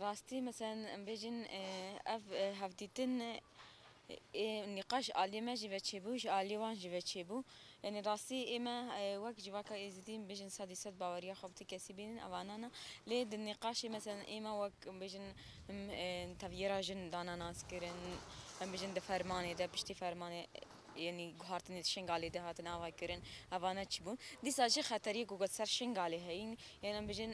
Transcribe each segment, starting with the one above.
Rastî meselen em bêjin ev hevdîtin ê nîqaş ji aliyê me jî ve çêbû, ji aliyê wan jî ve çêbû. Yanî rastî ê me wek civaka Êzidî em bêjin sedî sed baweriya xwe bi ti kesî bînin ev anan e. Lê di nîqaşê meselen ê me wek em bêjin tevgera jin dana naskirin, em bêjin di fermanê de piştî fermanê yanî guhartinê di Şingalê de hatin ava kirin, evane çi bûn. Dîsa jî xeteriyê ku got ser Şingalê heyî, yên em bêjin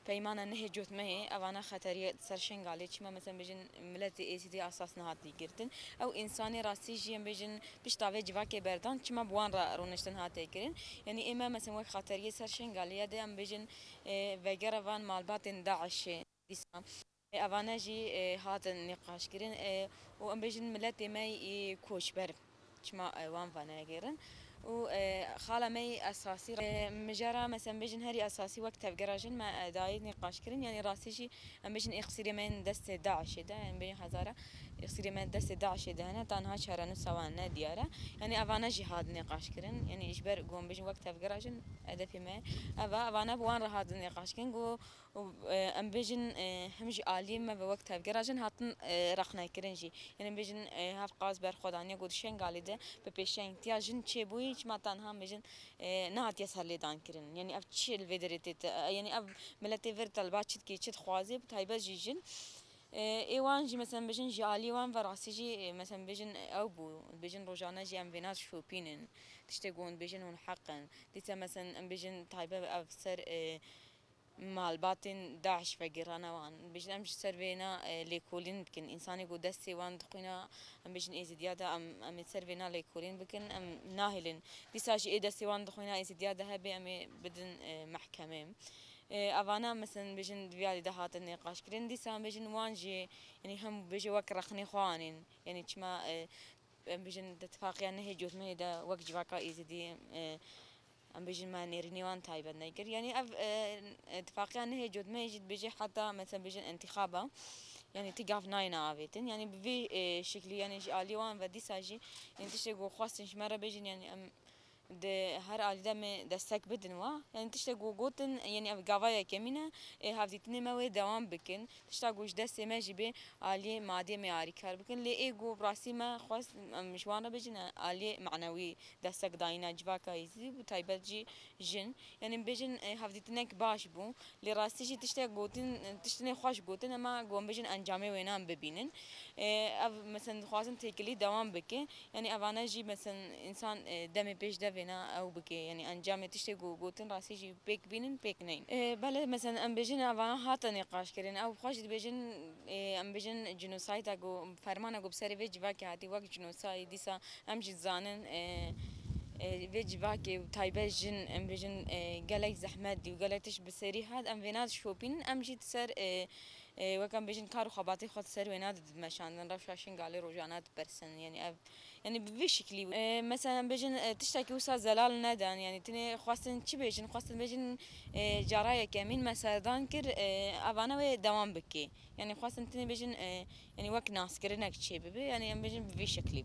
Peymana nehê cotmehê evana xeterî di ser Şengalê çima meseln bêjin miletê Êzidî asas nehatî girtin ew însanê rastî jî em bêjin pişta vê civakê berdan çima bi wan re rûniştin hate kirin yanî ême meseln wek xeterîyê ser Şengalê ya de em bêjin vegera van malbatên DAIŞ'ê dîsa Evane jî hatin nîqaşkirin û em bêjin miletê me yî koçber çima wan venegêrin û xala me yî esasî mijara me em bêjin herî esasî wek tevgera jin me dayê nîqaşkirin yanî rastî jî em bêjin îxsîrê me yên destê DAIŞ'ê de em bêjin hezara îxsîrê me destê DAIŞ'ê de hene tenha çarenûsa wan ne diyar e yanî evane jî hatin nîqaşkirin yanî ji ber ku em bêjin wek tevgera jin hedefê me ev e evane bi wan re hatin nîqaşkirin ku û em bêjin him jî aliyê me ve wek tevgera jin hatin rexnekirin jî. Yên em bêjin hev qas berxwe daniye ku di Şengalê de bi pêşengtiya jin çê bûyî çima tenha em bêjin nehatiye serlêdankirin. Yanî ev çi li vê derê tê de yanî ev miletê vir te li ba çi dikê çi dixwazê bi taybet jî jin ê wan jî mesela em bêjin ji aliyê wan ve rastî jî mesela em bêjin ew bû em bêjin rojane jî em vêna şopînin tiştê ku hûn dibêjin hûn heq in. Dîsa mesela em bêjin taybet ev ser Malbatên DAIŞ vegirane wan. Bêjin em ji ser vê na lêkolîn bikin. Însanê ku destê wan dixwîne em bêjin Êzîdiya de em em ê ser vê na lêkolîn bikin em nahêlin. Dîsa jî ê destê wan dixwîne Êzîdiya de hebe em ê bidin mehkemê. Evana meseln bêjin di vê alî de hatin nîqaşkirin. Dîsa em bêjin wan jî yanî hem bêje wek rexnê xwe anîn. Yanî çima em bêjin di tifaqiya nehê cotmehê de wek civaka Êzîdî Em bêjin me nêrînê wan taybet nekir. Yanî ev itifaqiya nehê cotmeyê jî dibêje heta mesela bêjin întîxaba yanî ti gav nayêne avêtin. Yanî bi vê şeklî yanî ji aliyê wan ve dîsa jî yanî tiştê ku xwestin ji me re bêjin yanî em di her alî de em ê destek bidin wan. Yanî tiştê ku gotin yanî ev gava yekemîn e, ê hevdîtinê me wê dewam bikin. Tişta ku ji destê me jî bê aliyê madî em ê alîkar bikin lê ê ku bi rastî me xwest em ji wan re bicin e aliyê manewî destek dayîna civaka Êzidî bi taybet jî jin. Yanî em bêjin hevdîtinek baş bû lê rastî jî tiştek gotin tiştinê xweş gotin em ê ku em bêjin encamê wêne em bibînin. Ev mesela dixwazin têkilî dewam bike Yanî evane jî meseln însan demê pêş de vêna ew bike yanî encamê tiştê ku gotin rastî jî pêk bînin pêk neyên. Bele meseln em bêjin evana hate nîqaşkirin ew xwe jî dibêjin em bêjin cînosayda ku fermana ku bi serê vê civakê hatî wek cînosay dîsa em jî dizanin vê civakê û taybet jin em bêjin gelek zehmet dî û gelek tişt bi serî hat em vêna dişopînin em jî di ser Wek em bêjin kar û xebatê xwe di ser wêna de dibe meşandin, rewşa Şingalê rojane dipersin, yanî ev yanî bi vê şiklî. Meselen em bêjin tiştekî wisa zelal nedan, yanî tenê xwestin çi bêjin, xwestin bêjin cara yekemîn me serdan kir, evane wê dewam bikê. Yanî xwestin tenê bêjin yanî wek naskirinek çêbibe, yanî em bêjin bi vê şeklî.